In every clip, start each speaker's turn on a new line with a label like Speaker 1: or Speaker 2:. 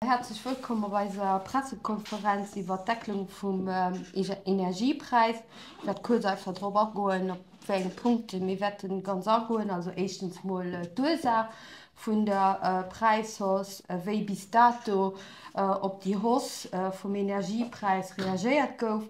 Speaker 1: Häerzlech wëllkomm op eiser Pressekonferenz iwwert d'Decklung vum Energiepräis. Ech wäert kuerz einfach drop agoen, op wéi enge Punkte mir wäerte ganz agoen. Also éischtens mol d'Ursaach vun der Präishausse, wéi bis dato op déi Hausse vum Energiepräis reagéiert gouf.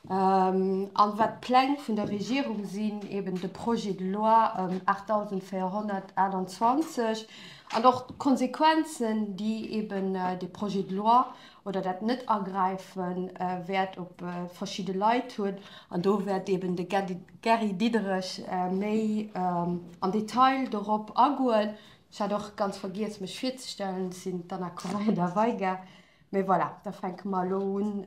Speaker 1: An wat d'Pläng vun der Regierung sinn, eben de Projet de loi 8428 an och d'Konsequenzen, déi eben dee Projet de loi oder dat Net-Agräife wäert op verschidde Leit hunn. An do wäert eben de Gary Diderich méi am Detail dorop agoen. Ech hat och ganz vergiess, mech virzestellen, Ech sinn d'Anna Correia-Da Veiga. Mee voilà, da fänke mer elo un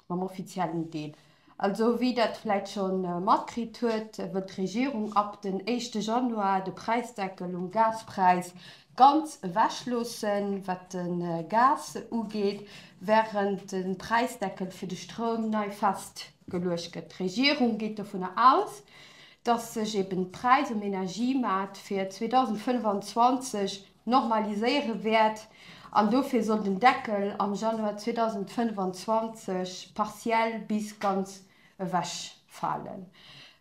Speaker 1: mam offiziellen Deel. Also wéi Der et vläit scho matkritt huet, wëllt d'Regierung ab den éischte Januar de Präisdeckel um Gaspräis ganz ewechloossen, wat de Gas ugeet, wärend de Präisdeckel fir de Stroum nei festgeluecht gëtt. D'Regierung geet dovunner aus, datt sech eeben d'Präis um Energiemaart fir 2025 normaliséiere wäert an dofir soll den Deckel am Januar 2025 partiell bis ganz ewechfalen.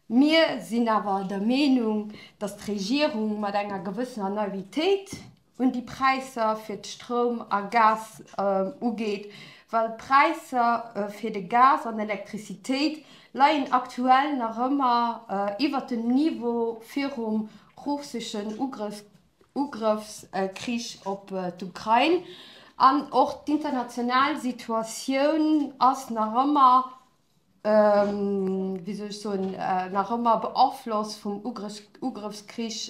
Speaker 1: Mir sinn awer der Meenung, dass d'Regierung mat enger gewëssener Naivitéit un déi Präisser fir d'Stroum a Gas ugeet, well d'Präisser fir de Gas an Elektrizitéit leien aktuell nach ëmmer iwwert dem Niveau virum russeschen Ugrëff Ugrëffskrich op d'Ukrain an och d'international Situatioun ass nach ëmmer, wéi soll ech soen, nach ëmmer beaflosst vum Ugrëffskrich,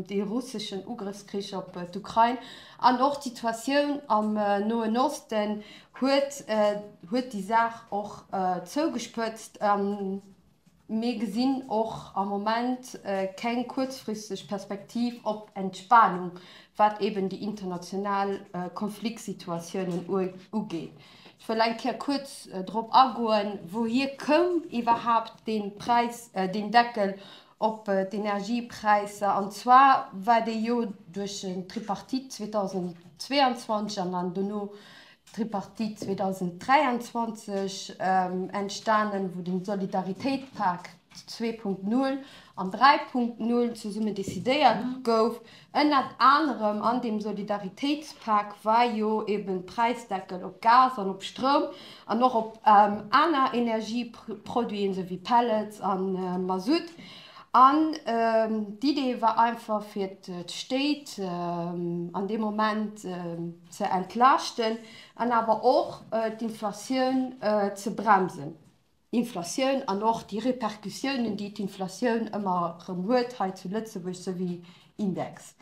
Speaker 1: dee russeschen Ugrëffskrich op d'Ukrain. An och d'Situatioun am Noen Osten huet déi Saach och zougespëtzt. Mir gesinn och am Moment keng kuerzfristeg Perspektiv op Entspanung, wat eben déi international Konfliktsituatiounen ugeet. Ech wëll eng Kéier kuerz drop agoen, Wouhier koum iwwerhaapt dee Präis, deen Deckel op d'Energiepräisser? An zwar war dee jo duerch d'Tripartite 2022 an dann dono Tripartite 2023 entstanen, wou den Solidaritéitpak 2.0 an 3.0 zesummen décidéiert gouf. Ënnert anerem an deem Solidaritéitspak war jo eben Präisdeckel op Gas an op Stroum an och op aner Energieproduiten, sou wéi Pellets a Masutt. An d'Idee war einfach fir d'Stéit an deem Moment, ze entlaaschten an awer och d'Inflatioun ze bremsen, Inflatioun an och déi Repercussiounen, déi d'Inflatioun ëmmer erëm huet hei zu Lëtzebuerg, sou wéi Index.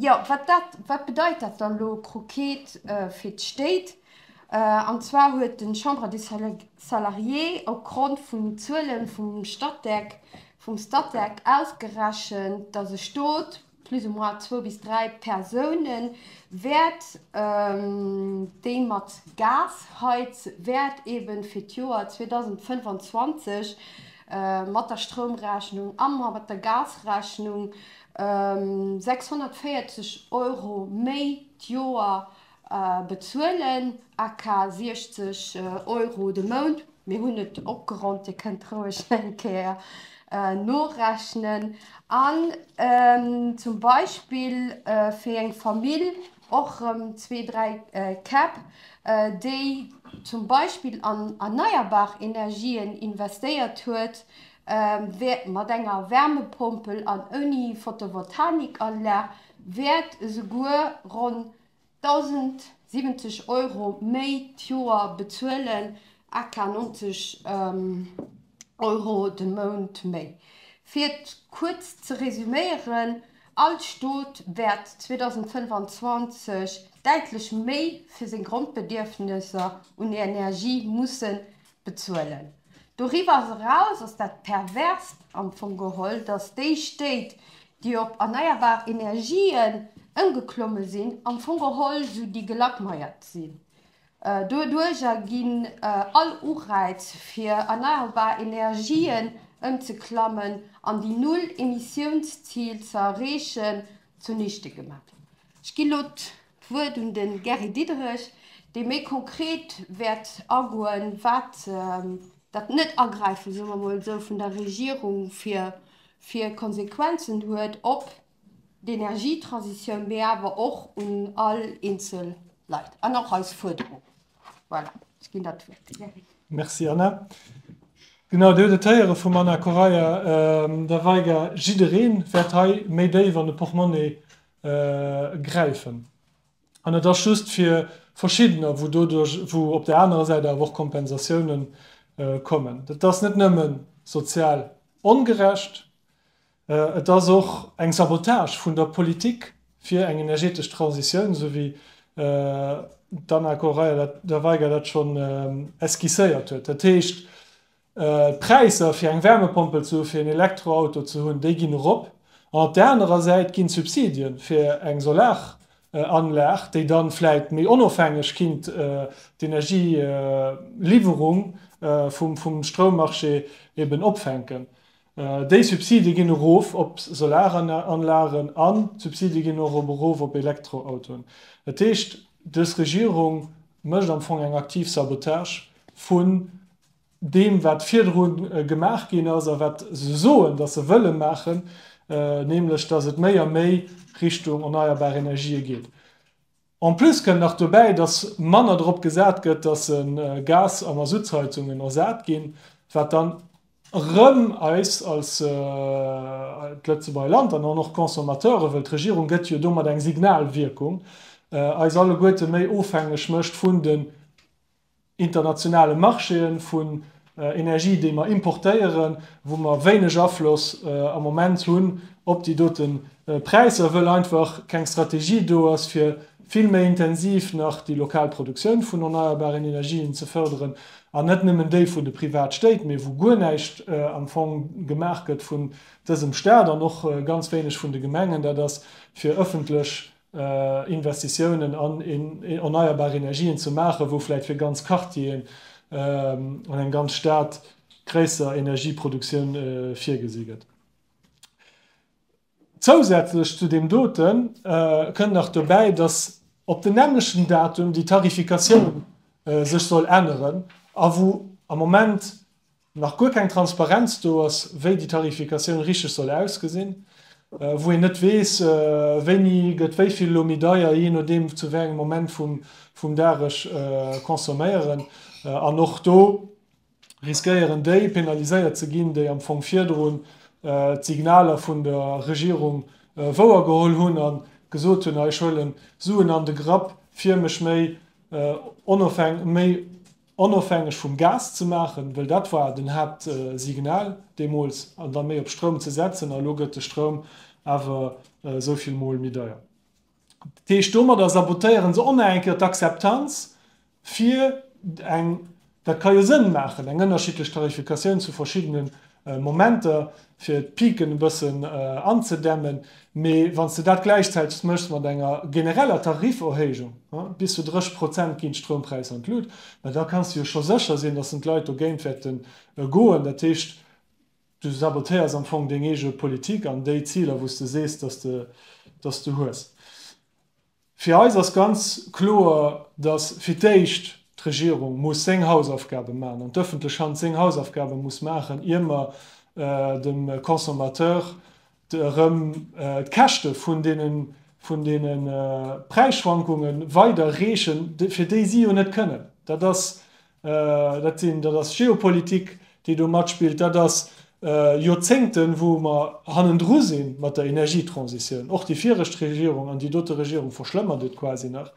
Speaker 1: Jo, wat dat, wat bedeit dat dann elo croquet fir d'Stéit? An zwar huet de Chambre des Salariés opgrond vun den Zuele vum Statec, vum Statec ausgerechent, datt e Stot, plus ou moins zwou bis dräi Persounen, wäert déi mat Gas heiz, wäert ebe fir d'Joer 2025 mat der Stroumrechnung a mat der Gasrechnung 640 Euro méi d'Joer Bezuelen, aka 60 Euro de Mount, mir hunn et opgeronnt, Dir kënnt roueg eng Kéier norechnen. An zum Beispill fir eng Famill, och erëm zwee, dräi Käpp, déi zum Beispill an erneierbar Energien investéiert huet, wäert mat enger Wärmepompel an ouni Photovoltaikanlag wäert esouguer ronn 1.070 Euro méi d'Joer bezuelen, aka 90 Euro de Mount méi. Fir et kuerz ze resuméieren, All Stot wäert 2025 däitlech méi fir seng Grondbedierfnesser un Energie musse Bezuelen. Doriwwer eraus ass dat Perverst am Fong geholl, datt déi Stéit, déi op erneierbar Energien ëmgeklomme sinn, am Fong geholl esou déi Gelackmeiert sinn. Doduerjer ginn all Ureiz fir erneierbar Energien ëmzeklammen an déi Null-Emissiounszil ze erreechen zunichte gemaach. Ech ginn elo D'Wuert un de Gary Diderich, dee méi konkret wäert agoen, wat dat Net-Agräifen, soe mer emol esou, vun der Regierung fir fir Konsequenzen huet op d'Energietransitioun, mee awer och un all eenzel Leit an och eis Fuerderung. Voilà, ech ginn der d'Wuert, de Gary. Merci, Anna.
Speaker 2: Genau, Dir hutt et héiere vum Anna Correia de Weiger, Jidderee wäert hei méi déif an de Portmonni gräifen. An et ass just fir verschiddener, wou doduerch, wou op där anerer Säit awer och Kompensatioune kommen. Dat ass net nëmme sozial ongerecht, et ass och eng Sabotage vun der Politik fir eng energetesch Transitioun, esou wéi d'Anna Koraia-De Weiger dat schonn esquisséiert huet. Dat heescht, D'Präisser fir eng Wärmepompel ze hu fir een Elektroauto ze hunn, déi ginn erop. An op där anerer Säit ginn d'Subsidie fir eng Solaranlag, déi dann vläit méi onofhängeg kinnt d'Energieliwwerung vum Stroummarché eben opfänken, déi Subsidie ginn erof op Solaranlagen an d'Subsidie ginn och op erof op Elektroautoen. Dat heescht, des Regierung mécht am Fong eng aktiv Sabotage vun deem wat virdru gemaach ginn ass a wat se soen, datt se wëlle maachen, nämlech datt et méi a méi Richtung erneierbar Energië geet. En plus kënnt nach dobäi, datt manner drop gesat gëtt, datt Gas a Masuttsheizungen ersat ginn, wat dann erëm eis als d'Lëtzebuerger Land an dann och d'Consommateure, wëll d'Regierung gëtt jo domat eng Signalwierkung, eis alleguerte méi ofhängeg mécht vun de. internationale Marchéë vu Energie, déi mer importéieren, wou mer wéineg Afloss am Moment hunn op déi dote Präisser, wëll einfach keng Strategie do ass, fir vill méi intensiv nach déi lokal Produktioun vun erneierbaren Energien ze fërderen, an net nëmmen déi vun de Privatstéit, mee wou guer näischt am Fong gemaach gëtt vun dësem Stat an och ganz wéineg vun de Gemengen. Dat ass fir ëffentlech Investitiounen an erneierbar Energien ze maachen, wou vläicht fir ganz Quartieren an eng ganz Stad gréisser Energieproduktioun virgesi gëtt. Zousätzlech zu deem doten kënnt nach dobäi, dass op den nämmlechten Datum déi Tarifikatioun sech soll änneren a wou am Moment, nach guer keng Transparenz do ass, wéi déi Tarifikatioun richteg soll ausgesinn, wou een net weess, wéini gëtt wéi vill elo méi deier, jee nodeem zu wéi engem Moment vum Dag ech consomméieren. An och do riskéieren déi penaliséiert ze ginn, déi am Fong virdrun d'Signaler vun der Regierung wouer geholl hunn a gesot hunn, ech huelen Suen an de Grapp, fir mech méi onofhängeg vum Gas ze maachen, well dat war den Haaptsignal deemools, an da méi op Stroum ze setzen. A elo gëtt de Stroum awer esou vill Mol méi deier. Dat heescht, domadder sabotéiere se och nach eng Kéier d'Akzeptanz fir eng, dat ka jo Sënn maachen, eng ënnerschiddlech Tarifikatioun zu verschiddene Momenter fir d'Piken e bëssen anzedämmen, mee wann s de dat gläichzäiteg méchs mat enger genereller Tariferhéijung bis zu 30 Prozent ginn d'Stroumpräisser an d'Lut, ma da kanns de jo scho sécher sinn, datt en d'Leit dogéint wäerte goen. Dat heescht, du sabotéiers am Fong deng eege Politik an déi Ziler wou s de sees, datt s de hues. Fir eis ass ganz kloer, dass fir d'éischt d'Regierung muss seng Hausaufgabe maachen an d'öffentlech Hand seng Hausaufgabe muss maachen, ier mer dem Consommateur erëm d'Käschte vun deene Präisschwankunge weiderreechen, fir déi si jo net kënnen. Dat ass Dat sinn, dat ass Geopolitik, déi do matspillt. Dat ass Joerzéngten, wou mer hannendru si mat der Energietransitioun. Och déi viregt Regierung an déi dote Regierung verschlëmmert et quasi nach.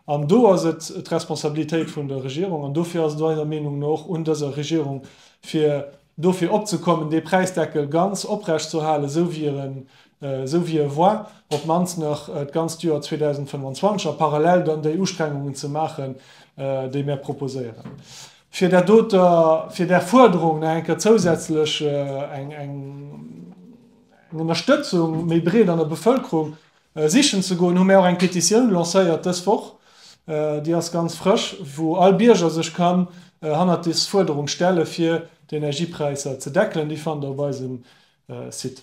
Speaker 2: An do ass et d'Responsabilitéit vun der Regierung, an dofir ass et eiser Meenung no och un dëser Regierung, fir dofir opzekommen, dee Präisdeckel ganz oprechtzuerhalen, esou wéi e esou wéi e war, op d'mannst nach d'ganzt Joer 2025, a parallel dann déi Ustrengungen ze maachen, déi mär proposéieren, fir där doter, fir där Fuerderung nach eng Kéier zousätzlech eng, eng, eng Ënnerstëtzung méi breet an der Bevëlkerung sichen ze goen, hu mir och eng Petitioun lancéiert dës Woch, déi ass ganz frësch, wou all Bierger sech kann hannert des Fuerderung stelle fir d'Energiepräisser ze deckelen. Déi fannt der op eisem Site.